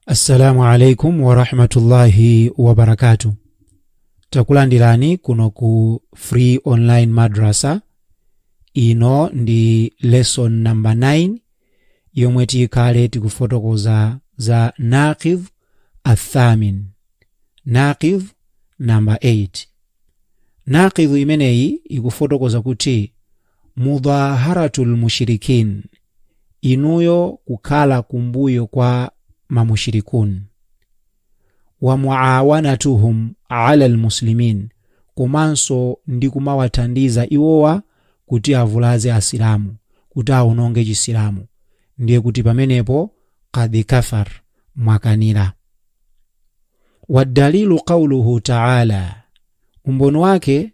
assalamu alaikum warahmatullahi wabarakatu takulandirani kuno ku free online madrasa ino ndi lesson number 9 yomwe tikhale tikufotokoza za naqidh athamin naqidh number 8 naqidh imeneyi ikufotokoza kuti mudhaharatul mushrikin inuyo kukhala kumbuyo kwa mamushirikun wa muawanatuhum ala almuslimin komanso ndi kumawathandiza iwowa kuti avulaze asilamu kuti awononge chisilamu ndiye kuti pamenepo qad kafar mwakanira wadalilu qauluhu taala umboni wake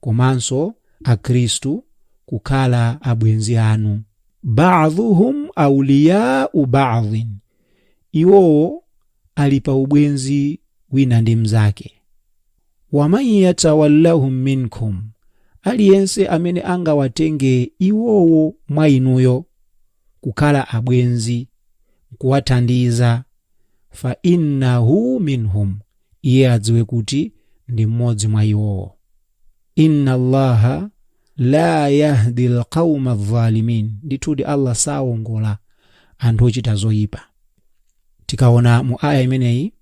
komanso Akhristu kukhala abwenzi anu. Ba'dhuhum awliya'u ba'dhin, iwowo ali pa ubwenzi wina ndi mnzake. Wa man yatawallahum minkum, aliyense amene angawatenge iwowo mwa inuyo kukhala abwenzi n'kuwathandiza, fa innahu minhum, iye adziwe kuti ndi mmodzi mwa iwowo inna allaha la yahdi lqauma dhalimin ndithudi allah saongola anthu ochita zoyipa tikaona mu aya imeneyi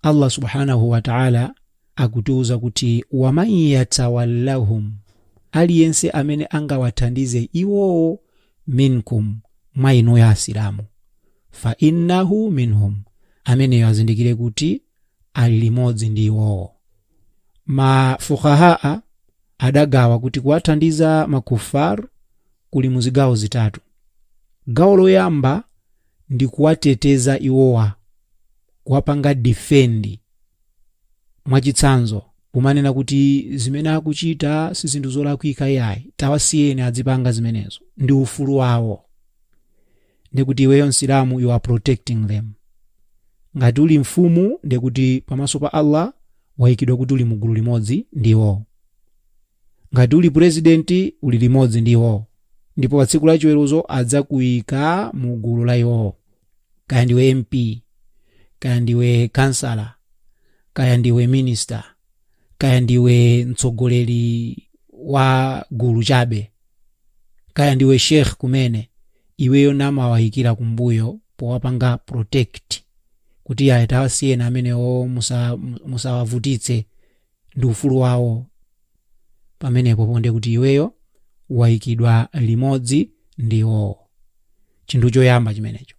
allah subhanahu wataala akutiwuza kuti waman yatawallahum aliyense amene angawathandize iwowo minkum mwa inuyo asilamu fa innahu minhum ameneyo azindikire kuti ali limodzi ndi iwowo mafuqahaa adagawa kuti kuwathandiza makufar kuli mu zigawo zitatu gawo loyamba ndi kuwateteza iwowa kuwapanga difendi mwachitsanzo kumanena kuti zimene akuchita si zinthu zolakwika iyayi tawasiyeni adzipanga zimenezo ndi ufulu wawo ndikuti iweyo msilamu you are protecting them ngati uli mfumu ndikuti pamaso pa allah wayikidwa kuti uli mugulu limodzi ndi iwo ngati uli purezidenti uli limodzi ndi iwo ndipo pa tsiku la chiweruzo adzakuyika mu gulu la iwowo kaya ndiwe mp kaya ndiwe kansala kaya ndiwe minista kaya ndiwe mtsogoleri wa gulu chabe kaya ndiwe sheikh kumene iweyo namawayikira kumbuyo powapanga protect kuti ayi tawasiyeni amenewo musawavutitse ndi ufulu wawo pamenepo point kuti iweyo wayikidwa limodzi ndi iwowo chinthu choyamba chimenecho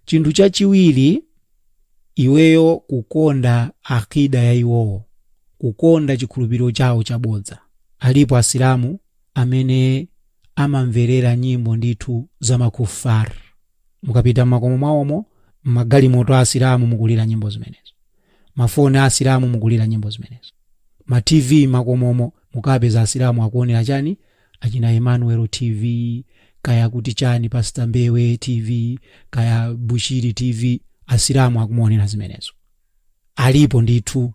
chinthu chachiwiri iweyo kukonda aqida ya iwowo kukonda chikhulupiriro chawo chabodza alipo asilamu amene amamverera nyimbo ndithu za makufar mukapita m'makomo mwawomo m'magalimoto a asilamu mukulira nyimbo zimenezo mafoni a asilamu mukulira nyimbo zimenezo ma tv makomomo mukapeza asilamu akuonera chani achina emmanuel tv kaya kuti chani pastor mbewe tv kaya bushiri tv asilamu akumaonera zimenezo alipo ndithu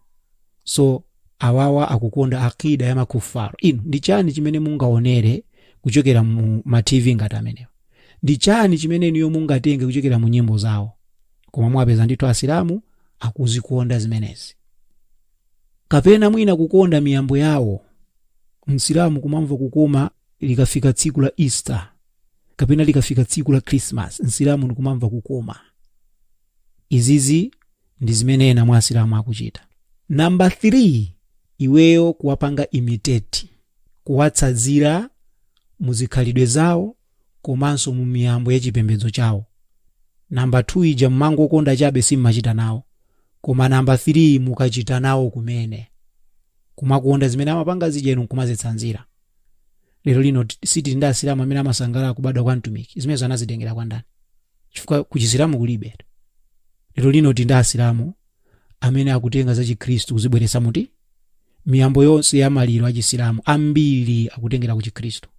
so awawa akukonda aqida ya makufar inu ndi chani chimene mungaonere kuchokera mu ma tv ngati amenewo ndi chani chimene inuyo mungatenge kuchokera mu nyimbo zawo koma muwapeza ndithu asilamu akuzikonda zimenezi kapena mwina kukonda miyambo yawo msilamu kumamva kukoma likafika tsiku la easter kapena likafika tsiku la christmas msilamu ndikumamva kukoma izizi ndi zimene ena mwa asilamu akuchita namba 3 iweyo kuwapanga imitate kuwatsanzira muzikhalidwe zawo komanso mu miyambo ya chipembedzo chawo namba 2 ija mumangokonda chabe simmachita nawo koma namba 3 mukachita nawo kumene kumakonda zimene amapanga zija inu nkumazitsanzira lero lino t- sitili ndi asilamu amene amasangalala kubadwa kwa mtumiki zimenezo anazitengera kwa ndani chifukwa ku chisilamu kulibe lero lino tili ndi asilamu amene akutenga za chikhristu kuzibweretsa mkati miyambo yonse ya maliro a chisilamu ambiri akutengera ku chikhristu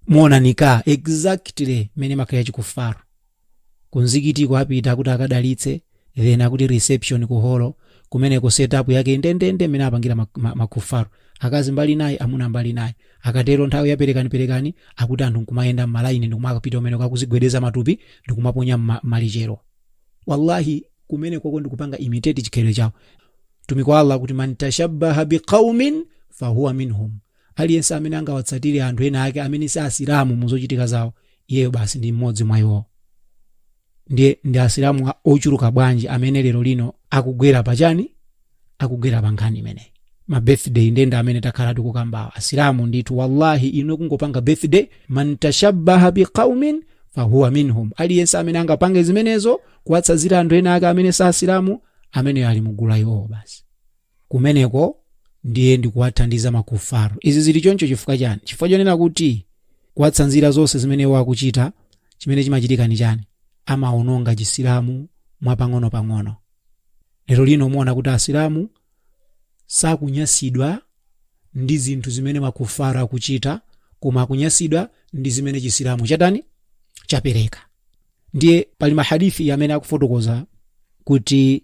mukuonanika exactly mmene makhalira ya chikufaru kumzikitiko apita kuti akadalitse then akuti reception ku holo kumeneko setup yake indendende mmene apangira mak- ma- makufaru akazi mbali inayi amuna mbali inayi akatero nthawi ya perekani perekani akuti anthu nkumayenda mmalaini ndikumakapita kumeneko akuzigwedeza matupi ndikumaponya mma- malichero wallahi kumenekoko ndikupanga imitate chikhalidwe chawo mtumiki wa allah akuti man tashabbaha biqaumin fahuwa minhum aliyense amene angawatsatire anthu ena ake amene si asilamu muzochitika zawo iyeyo basi ndi mmodzi mwa iwowo ndiye ndi asilamu a- ochuluka bwanji amene lero lino akugwera pachani akugwera pa nkhani imeneyi ma birthday nde ndi amene takhala tikukambawa asilamu ndithu wallahi inu kungopanga birthday man tashabbaha biqaumin fahuwa minhum aliyense amene angapange zimenezo kuwatsanzira anthu ena ake amene si asilamu ameneyo ali mugulu la iwowo basi kumeneko ndiye ndikuwathandiza makufaru izi zili choncho chifukwa chani chifukwa chonena kuti kuwatsanzira zonse zimene iwo akuchita chimene chimachitika ni chani amaononga chisilamu mwapang'ono-pang'ono lero lino muona kuti asilamu sakunyasidwa ndi zinthu zimene makufaru akuchita koma akunyasidwa ndi zimene chisilamu chatani chapereka ndiye pali mahadithi amene akufotokoza kuti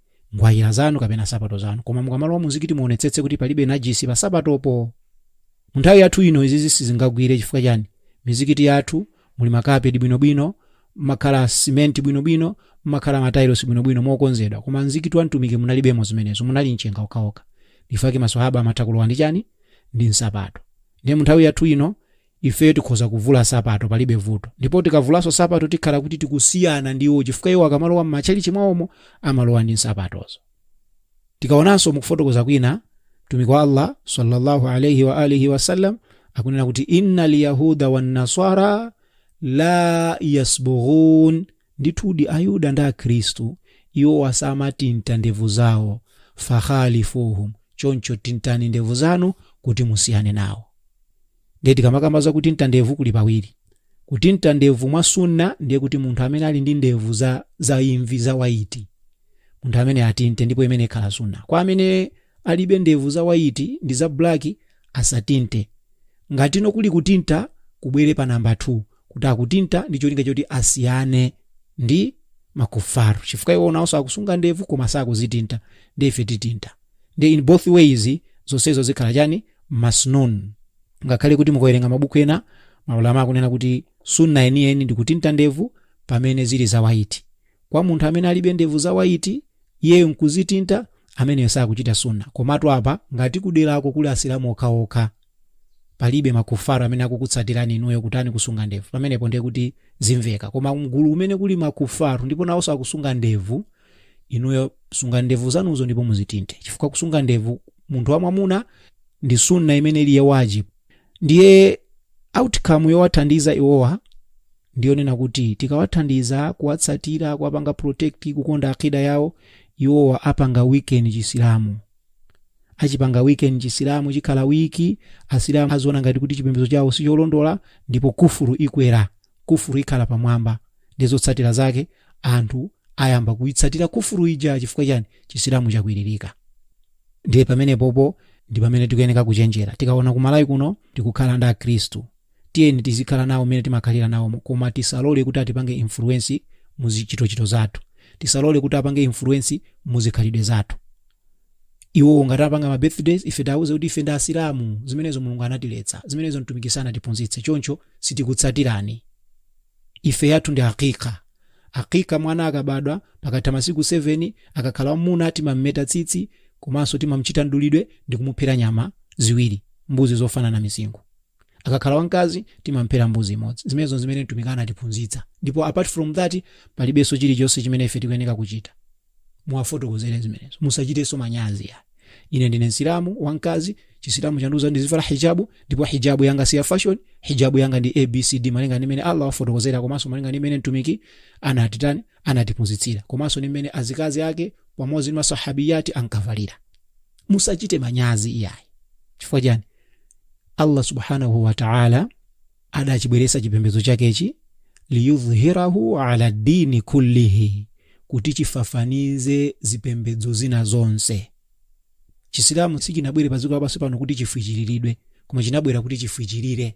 nkhwayira zanu kapena sapato zanu koma mukamalowa muzikiti muonetsetse kuti palibe najisi pa sapatopo mu nthawi yathu ino izizi sizingagwire chifukwa chani mizikiti yathu muli makapeti bwinobwino mmakhala simenti bwinobwino mmakhala matailosi bwinobwino mokonzedwa koma mzikiti wa mtumiki munalibemo zimenezo munali mchenga okhaokha nchifukwa chake maswahaba amatha kulowa ndi chani ndi nsapato ndiye mu nthawi yathu ino Ife tikhoza kuvula nsapato palibe vuto. Ndipo tikavulanso nsapato tikhala kuti tikusiyana ndi iwo chifukwa iwo akamalowa m'matchalitchi mwawomo amalowa ndi nsapatozo. Tikaonanso mu kufotokoza kwina, Mtumiki wa Allah sallallahu alayhi wa alihi wasallam akunena kuti innal yahuda wan nasara la yasbughun, ndithudi Ayuda ndi Akhristu iwo samatinta ndevu zawo, fakhalifuhum, choncho tintani ndevu zanu kuti musiyane nawo. ndiye tikamakamba zakutinta ndevu kuli pawiri kutinta ndevu mwa sunna ndiye kuti munthu amene ali ndi ndevu za, za imvi za white munthu ameneyo atinte ndipo imeneyo ikhala sunna kwa amene alibe ndevu za white ndi za black asatinte ngati no kuli kutinta kubwere pa namba 2 kuti akutinta ndi cholinga choti asiyane ndi makufaru chifukwa iwo nawonso akusunga ndevu koma sakuzitinta ndiye ife titinta ndiye in both ways zonsezo zikhala chani masnun ngakhale kuti mukawerenga mabuku ena maulama akunena kuti sunna yeniyeni ndi kutinta ndevu pamene zili za white kwa munthu amene alibe ndevu za white iyeyo nkuzitinta ameneyo sakuchita sunna komatu apa ngati kuderako kuli asilamu okhaokha palibe makufaru amene akukutsatirani inuyo kutani kusunga ndevu pamenepo ndiye kuti zimveka koma mgulu limene kuli makufaru ndipo nawonso akusunga ndevu inuyo sungani ndevu zanuzo ndipo muzitinte chifukwa kusunga ndevu munthu wamwamuna ndi sunna imene ili ya wajibu ndiye outcome yowathandiza iwowa ndiyonena kuti tikawathandiza kuwatsatira kuwapanga protect kukonda akida yawo iwowa apanga weaken chisilamu achipanga weaken chisilamu chikhala weak asilamu aziona ngati kuti chipembedzo chawo sicholondola ndipo kufuru ikwera kufuru ikhala pamwamba ndiye zotsatira zake anthu ayamba kuitsatira kufuru ija chifukwa chani chisilamu chakwiririka ndiye pamenepopo ndi pamene tikuyeneka kuchenjera tikaona kumalawi kuno tikukhala ndi akhristu tiyeni tizikhala nawo mmene timakhalira nawo koma tisalole kuti atipange influence muzichitochito zathu tisalole kuti apange influence muzikhalidwe zathu iwowo ngati apanga ma birthdays ife tiauze kuti ife ndi asilamu zimenezo mulungu anatiletsa zimenezo mtumiki sanatiphunzitse choncho sitikutsatirani ife yathu ndi hakika hakika mwana akabadwa pakatha masiku 7 akakhala wamuna timammeta tsitsi komanso timamchita mdulidwe ndi kumuphera nyama ziwiri mbuzi zofanana misinkhu akakhala wamkazi timamphera mbuzi imodzi zimenezo zimene mtumiki anatiphunzitsa ndipo apart from that palibenso chilichonse chimene ife tikuyeneka kuchita muwafotokozere zimenezo musachitenso manyazi iyayi ine ndine msilamu wamkazi chisilamu chandiuza ndizivala hijabu ndipo hijabu yanga si ya fashion hijabu yanga ndi abcd malinga ndimene allah wafotokozera komanso malinga ndimene mtumiki anatitani anatiphunzitsira komanso ndimene azikazi ake pamodzi ndi masahabiyati ankavalira musachite manyazi iyayi chifukwa chani allah subhanahu wataala adachibweresa chipembedzo chakechi liyudhhirahu ala dini kullihi kuti chifafanize zipembedzo zina zonse chisilamu sichinabwere pa dziko lapansi pano kuti chifwichiriridwe koma chinabwera kuti chifwichirire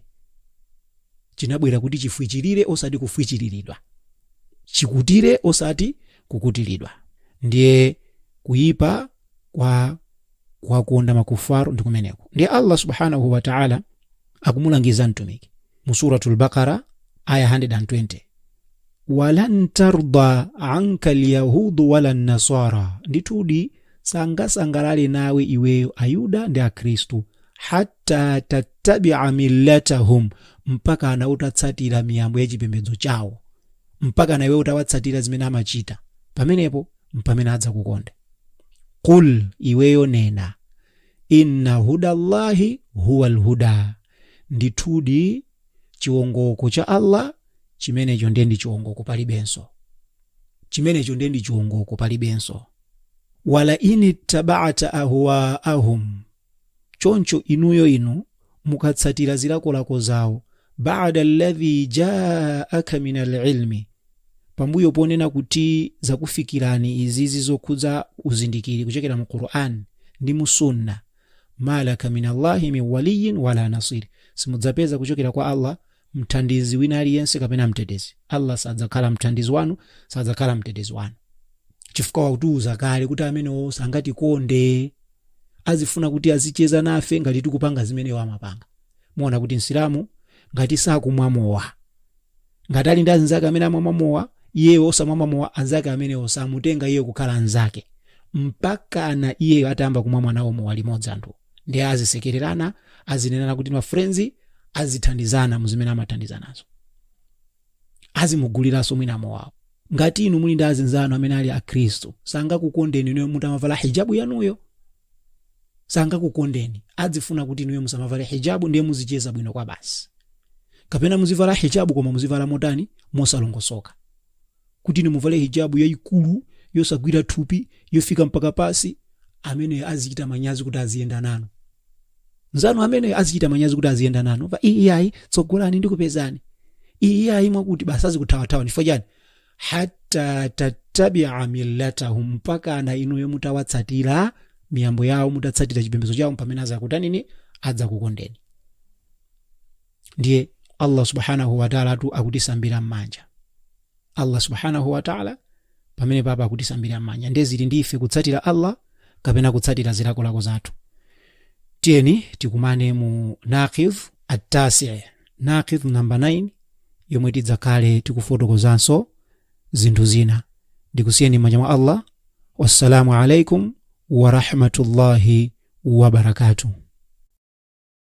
chinabwera kuti chifwichirire osati kufwichiriridwa chikutire osati kukutiridwa ndiye kuyipa kwa kuwakonda makufaru ndi kumeneko ndiye allah subhanahu wataala akumulangiza mtumiki mu suratul bakara aya 120 walan tarda anka lyahudu wala nasara ndithudi sangasangalale nawe iweyo ayuda ndi akhristu hatta tattabia millatahum mpakana utatsatira miyambo ya chipembedzo chawo mpakana iwe utawatsatira zimene amachita pamenepo mpamene adzakukonda qul iweyo nena Inna hudallahi huwal huda, ndithudi chiwongoko cha Allah chimenecho ndiye ndi chiwongoko palibenso, chimenecho ndiye ndi chiwongoko palibenso. Wala inittaba'ta ahwa'ahum, choncho inuyo inu mukatsatira zilakolako zawo bada alladhi jaaka min alilmi pambuyo ponena kuti zakufikirani izizi zokhudza uzindikiri kuchokera mu quran ndi mu sunna malaka min allahi min waliyin wala nasiri simudzapeza kuchokera kwa allah mthandizi wina aliyense kapena mtetezi allah sadzakhala mthandizi wanu sadzakhala mtetezi wanu chifukwa watiuza kale kuti amenewo sangatikonde azifuna kuti azicheza nafe ngati tikupanga zimene iwo amapanga muona kuti msilamu ngati sakumwa mowa ngati ali ndi anzake amene amamwa mowa iyeyo osamamwa mowa anzake amenewo samutenga iye kukhala anzake mpakana iyeyo atayamba kumwa nawo mowa limodzi anthu ndiye azisekererana azinenana kuti mafrenzi azithandizana muzimene amathandizanazo azimuguliranso mwina mowawo ngati inu muli ndi azinzanu amene ali akhristu sangakukondeni inuyo mutamavala hijabu yanuyo sangakukondeni adzifuna kuti inuyo musamavale hijabu ndiye muzicheza bwino kwabasi kapena muzivala hijabu koma muzivala motani mosalongosoka kuti inu muvale hijabu yayikulu yosagwira thupi yofika mpaka pansi ameneyo azichita manyazi kuti aziyenda nanu nzanu ameneyo azichita manyazi kuti aziyenda nanu pa iyayi tsogolani ndikupezani iyayi mwakuti basi azikuthawathawa chifukwa chani hatta tattabia millatahum mpakana inuyo mutawatsatira miyambo yawo mutatsatira chipembedzo chawo pamene azakutanini adzakukondeni ndiye allah subhanahu wataalatu akutisambira m'manja allah subhanahu wataala pamenepapa akutisambira m'manja ndiye zili ndi ife kutsatira allah kapena kutsatira zilakolako zathu tiyeni tikumane mu naqidh attasi naqidh namba 9 yomwe tidzakhale tikufotokozanso zinthu zina ndikusiyeni m'manja mwa allah wassalamu alaikum warahmatullahi wabarakatuh